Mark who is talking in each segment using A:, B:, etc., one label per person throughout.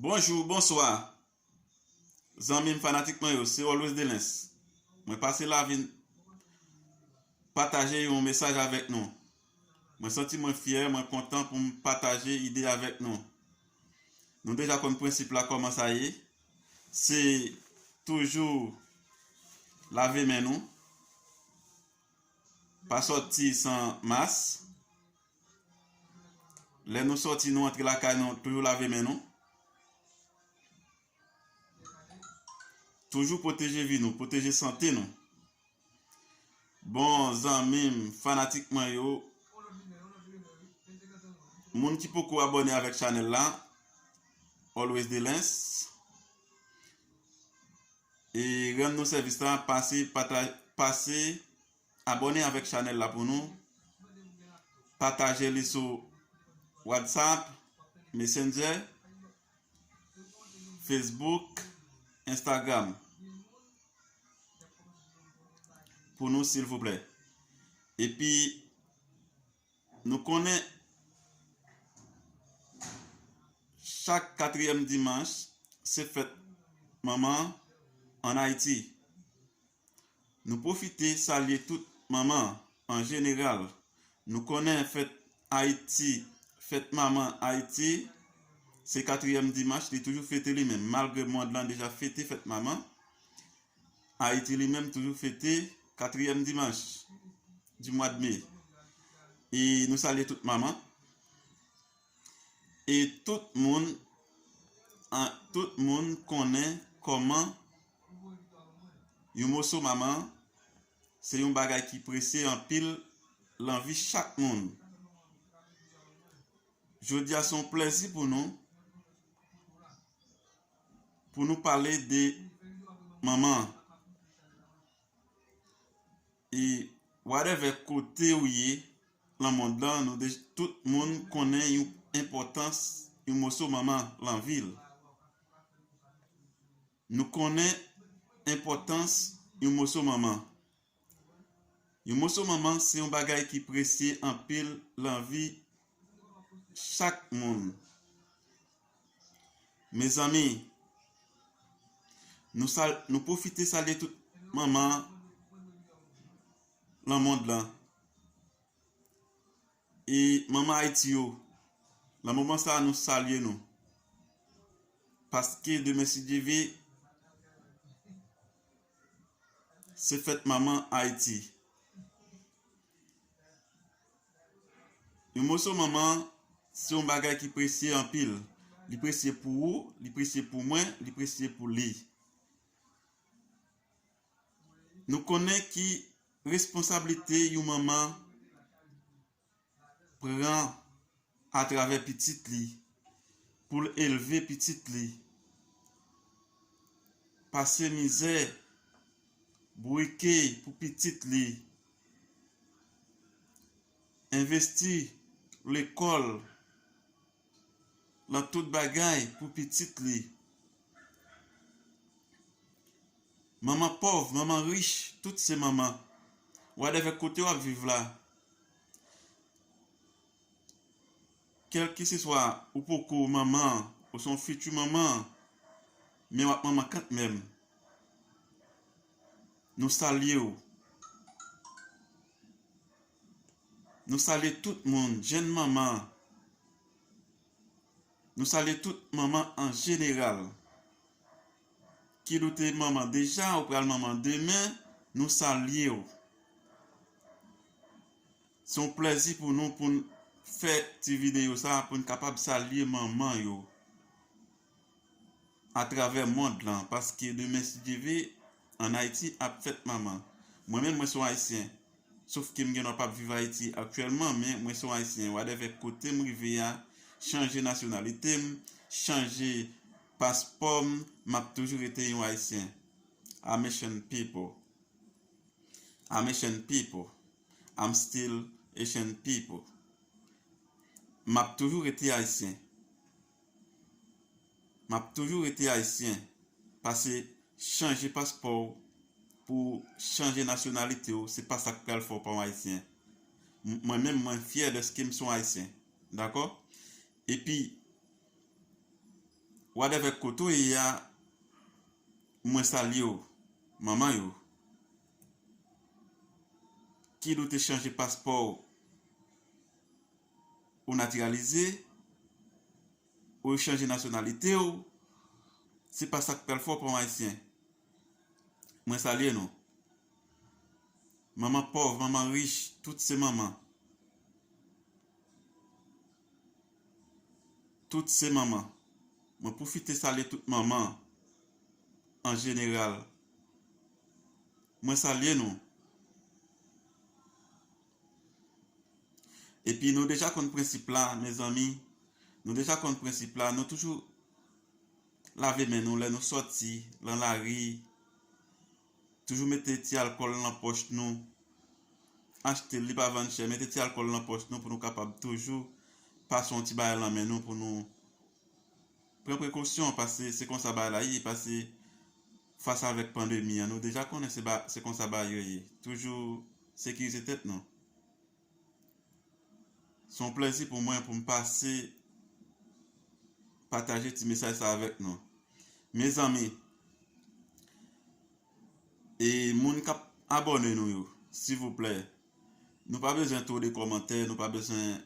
A: Bonjou, bonswa Zanmi m fanatik mwen yo se Always Delens mwen pase la vin pataje yon mesaj avèk nou mwen santi mwen fyè mwen kontan pou m pataje ide avèk nou nou deja konn prensip la kòman sa ye se toujou lave men nou pa sòti san mas Lè nou sòti nou antre lakay nou toujou lave men nou. Toujou pwoteje vi nou, pwoteje sante nou. Bon zanmi m, fanatik mwen yo, moun ki poko abone avèk chanèl la, Always Delens, e rann nou sèvis la, pase, pase, pase, pase, Abone avek chanel la pou nou. Pataje li sou WhatsApp, Messenger, Facebook, Instagram. Pou nou silvouplè. E pi nou konnen chak katriyèm dimanch se fèt manman an Ayiti. Nou pwofite salye tout manman an jeneral. Nou konnen fèt Ayiti, fèt manman Ayiti, se katriyèm dimanch li toujou fete li menm. Malgre mond lan deja fete fèt manman, Ayiti li menm toujou fete katriyèm dimanch di mwad me. E nou salye tout manman e tout moun, tout moun konnen kòman. Yon moso manman se yon bagay ki prese anpil lan vi chak moun. Jodi a se yon plèzi pou nou pou nou pale de manman. E wadèvè kote ou ye lan mond lan nou de tout moun konnen yon enpòtans yon moso manman lan vil. Nou konnen enpòtans yon moso manman. Yon moso manman se yon bagay ki presye anpil lan vi chak moun. Mezanmi, nou sal, nou pwofite salye tout manman lan mond lan. e manman Ayiti yo nan moman sa a nou salye nou paske demen si Dye ve se fèt manman Ayiti yon moso manman se yon bagay ki presye anpil li presye pou ou, li presye pou mwen, li presye pou li Nou konnen ki responsablite yon manman pran atravè pitit li pou l elve pitit li, pase mizè, bouke pou pitit li, envesti lekòl. Lan tout bagay pou pitit li. Manman pòv, manman rich, tout se manman. Wadèvè kote w ap viv la, kèlkeseswa ou poko manman an, ou se yon fiti manman an, men w ap manman kantmenm. Nou salye w. Nou salye tout moun jenn manman Nou salye tout manman an jeneral Kid ou te manman deja ou pral manman demen nou salyew Se yon plèzi pou nou poun fè ti videyo sa poun kapab salye manman yo. a travè mond lan paske demen si Dye ve an Hayti ap fèt manman mwen menm mwen son Haysyen sof kem gen dwa pap viv Hayti aktyèlman men mwen son Haysyen wadèvè kotem rive a chanje nasyonalitem chanje paspòm map toujou rete yon Haysyen I'm Haitian people I'm Haitian people I'm still Haitian people map toujou rete Haysyen. Map toujou rete ayisyen. Pase chanje paspò w pou w chanje nasyonalite w se pa sa k pral fè w pa yon ayisyen. Mwen menm mwen fyè dèske m se yon ayisyen. Dakò? Epi whatever kote w ye a mwen salye w manman yo. Kid ou te chanje paspò w? ou natiralize, ou yo chanje nasyonalite ou, se pa sa k pral fè w pa yon Ayisyen. Mwen salye nou. Manman pòv, manman rich, tout se manman. Tout se manman. Mwen pwofite salye tout manman an jeneral. Mwen salye nou. Epi nou deja konn prensip la mezanmi nou deja konn prensip la nou toujou lave men nou lè nou sòti lan lari toujou mete ti alkòl lan pòch nou achte li pa vann chè mete ti alkòl lan pòch nou pou nou kapab toujou pa son ti bagay lan men nou pou nou Pran prekosyon pase se konsa bagay la ye pase fas avek pandemi an nou deja konnen se ba se konsa bagay yo ye toujou sekirize tèt nou. Se yon plèzi pou mwen pou m pase pataje ti mesaj sa avèk nou mezanmi e moun kap abòne nou yo silvouplè nou pa bezwen two de kòmantè nou pa bezwen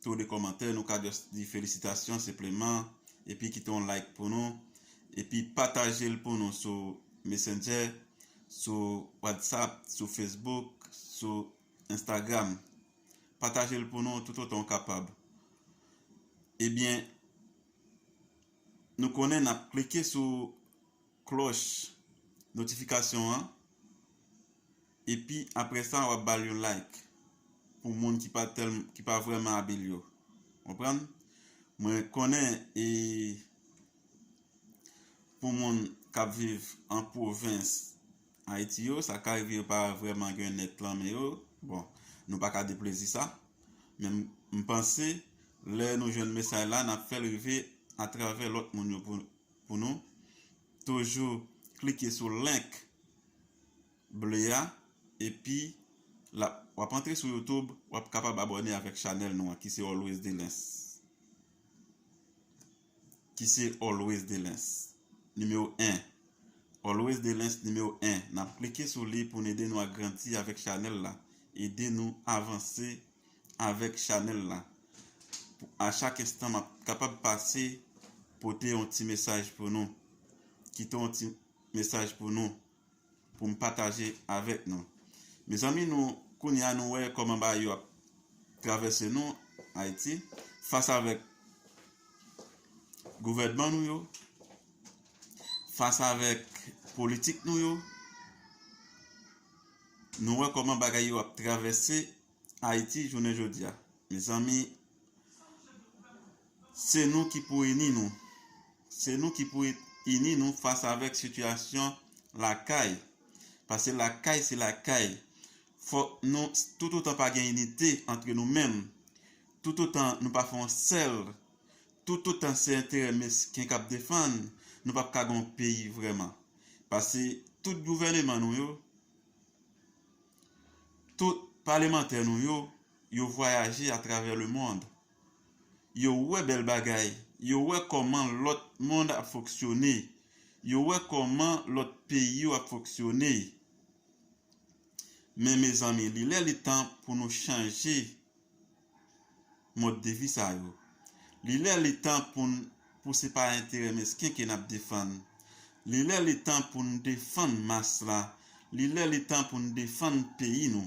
A: Tou de komantè nou ka just di felisitasyon senpleman epi kite yon like pou nou epi patajel pou nou sou messenger sou whatsapp sou facebook sou instagram patajel pou nou tout otan ou kapab ebyen nou konnen nap klike sou Klòch notifikasyon an epi aprè sa wap bal yon like pou moun ki pa tèl ki pa vrèman abil yo konprann mwen konnen e pou moun kap viv an pwovens ayiti yo sa ka rive yo pa vrèman gen nèt lan men yo bon nou paka deplezi sa men mpanse lè nou jwenn mesay la nap fèl rive atravè lòt moun yo pou pou nou toujou klike sou link ble a epi lap wap antre sou youtube wap kapab abòne avèk chanèl nou an ki se always delens ki se always delens nimewo 1 always delens nimewo 1 nap klike sou li pou n ede nou agrandi avèk chanèl la ede nou avanse. avèk chanèl la pou a chak enstan map kapab pase pote yon ti mesaj pou nou kite yon ti mesaj pou nou pou m pataje avèk nou mezanmi nou kounya nou wè kòman bagay yo ap travèse nou ayiti fas avèk gouvènman nou yo fas avèk politik nou yo nou wè kòman bagay yo ap travèse Ayiti jounen jodi a. Mezanmi se nou ki pou ini nou. Se nou ki pou ini nou fas avèk sitiyasyon lakay. Pase lakay se lakay. Fòk nou toutotan pa gen inite antre nou menm, toutotan nou pa fè yon sèl, toutotan se enterè mesken k ap defann, nou p ap ka gen yon peyi vrèman. Pase tout gouvèneman nou yo. Tout palemantè nou yo, yo vwayaje atravè lemond. Yo wè bèl bagay, yo wè kòman lòt mond ap fonksyone, yo wè kòman lòt peyi yo ap fonksyone. Men mezanmi li lè li tan pou nou chanje. mòd de vi sa yo. Li lè li tan pou n pou se pa enterè mesken ke n ap defann. Li lè li tan pou n defann mas la. Li lè li tan pou n defann peyi nou.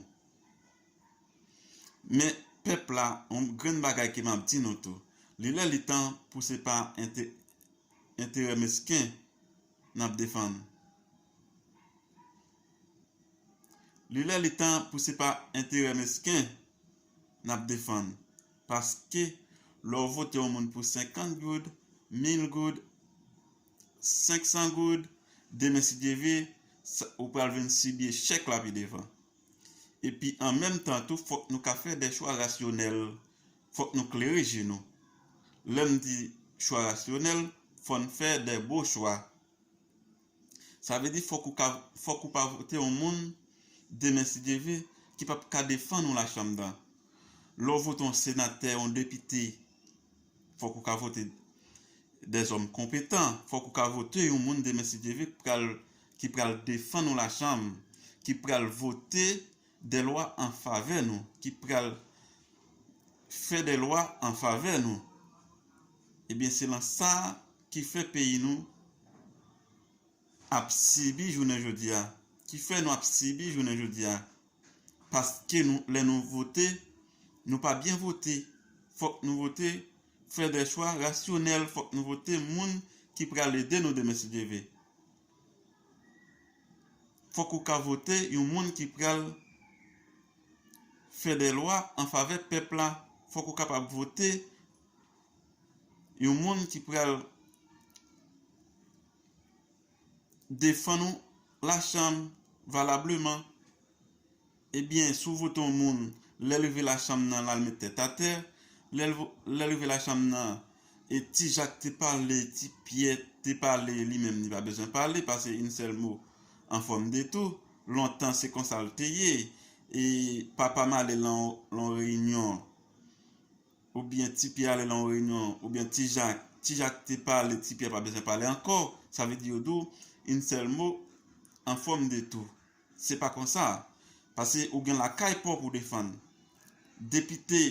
A: Men, pèp la, yon grenn bagay ke m ap di nou tou, li lè li tan pou se pa enterè mesken n ap defann. Li lè li tan pou se pa enterè mesken nap defann paske lè w vote yon moun pou 50 goud, 1000 goud, 500 goud demen si Dye vle ou pral vin sibi echèk la pi devan. Epi an menm tan tou fòk nou ka fè dè chwa rasyonèl, fòk nou klere je nou. Lè m di chwa rasyonèl fò n fè dè bon chwa. Sa vle di fòk ou ka fòk ou pa vote yon moun demen si Dye ve ki p ap ka defann yon lachanm dan. Lè w vote yon senatè, yon depite fòk ou ka vote dèzòm konpetan, fòk ou ka vote yon moun demen si Dye ve ki pral ki pral defann yon lachanm, ki pral vote dè lwa an favè nou, ki pral fè dè lwa an favè nou, ebyen se lan sa ki fè peyi nou ap sibi jounen jodi a, ki fè nou ap sibi jounen jodi a, paske nou lè nou vote, nou pa byen vote, fòk nou vote fè dè chwa rasyonèl, fòk nou vote moun ki pral ede nou demen si Dye ve. Fòk ou ka vote yon moun ki pral fè dè lwa an favè pèp la, fòk ou kapab vote yon moun ki pral defann ou la chanm valableman. Ebyen si w vote yon moun lè l rive lachanm nan l al met tèt atè, lè l rive lachanm nan e ti jak te pale ti pyè te pale li menm li pa bezwen pale pase yn sèl mo an fòm de tou, lontan se konsa l te ye e papa m ale lan yon reyinyon oubyen ti pyè ale lan yon reyinyon oubyen ti jak ti jak te pale ti pyè pa bezwen pale ankò sa vle di yo di w yn sèl mo an fòm de tou Se pa konsa. Pase ou gen lakay paw pou defann. Depite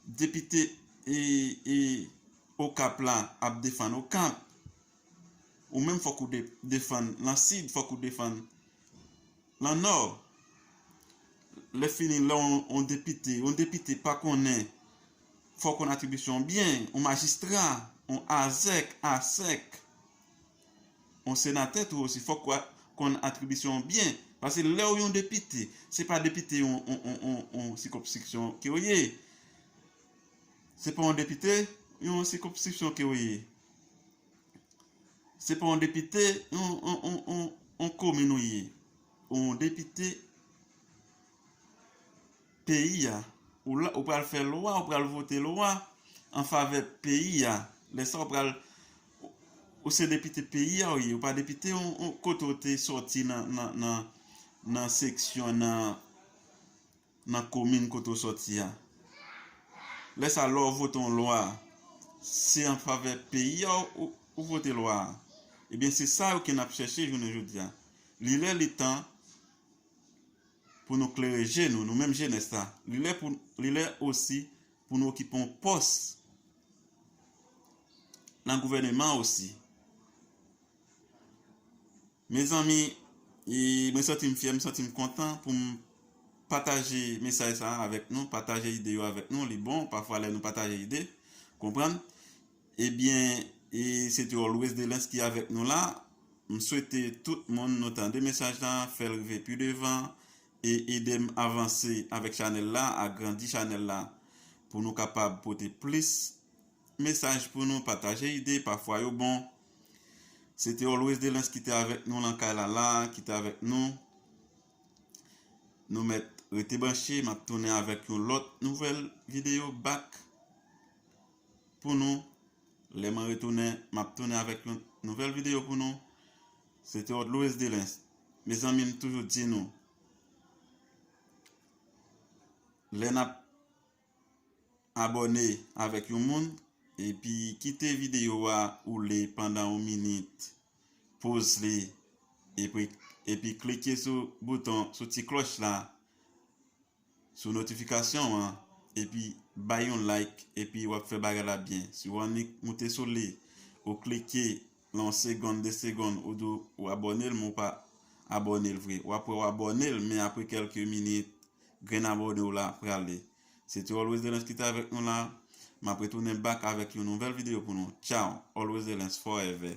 A: Depite e e okap la ap defann okap. Ou menm fok ou de defann lan sid fok ou defann lan nò. Le fini le on depite on depite pa konnen fok on atribisyon byen on majistra on azèk asèk Yon senatè tou osi fòk wap konn atribisyon w byen pase lèw yon depite se pa depite yon sikonpsiksyon kew ye se pa yon depite yon sikonpsiksyon kew ye se pa yon depite yon komin ou ye ou yon depite Peyi a. Ou la, ou pral fè lwa, ou pral vote lwa an favè peyi a. Lè sa ou pral, ou se depite peyi a ou ye, ou pa depite yon kote ou te soti nan seksyon, nan komin kote ou soti a. Lè sa lè ou vote yon lwa, se an favè peyi a ou vote lwa a. Ebyen se sa yo ke n ap chèche jounen jodi a. Li lè li tan. pou nou klere je nou, nou menm jenès la, li lè pou, li lè osi pou nou okipe yon pòs nan gouvèneman osi. Mezanmi, e mwen santi m fyè, m santi m kontan pou m pataje mesaj sa a avèk nou, pataje ide yo avèk nou, li bon pafwa lè nou pataje ide, konprann. Ebyen e se te always delens ki avèk nou la m swete tout moun nou tande mesaj la fèl rive pi devan e edem avanse avèk chanèl la agrandi chanèl la pou nou kapab pote plis mesaj pou nou pataje ide pafwa yo bon se te always delens ki te avèk nou lan kay la la ki te avèk nou nou mèt rete branche map tounen avèk yon lòt nouvèl video back. pou nou lè mwen retounen map tounen avèk yon nouvèl video pou nou se te od Louis Delens mezanmi m toujou di nou lè nap abòne avèk yon moun epi kite video a oule pandan yon minit poz li epi klike sou bouton sou ti klòch la sou notification an epi bay yon like epi wap fè bagay la byen si ou annik moute sou li ou klike nan yon segonn 2 segonn ou di ou abòne l men ou pa abòne l vre wap wè ou abòne l men apre kèlke minit grenn abòne w la prale se te Always Delens ki te avèk nou la map retounen back avèk yon nouvèl video pou nou tchaww Always Delens forever.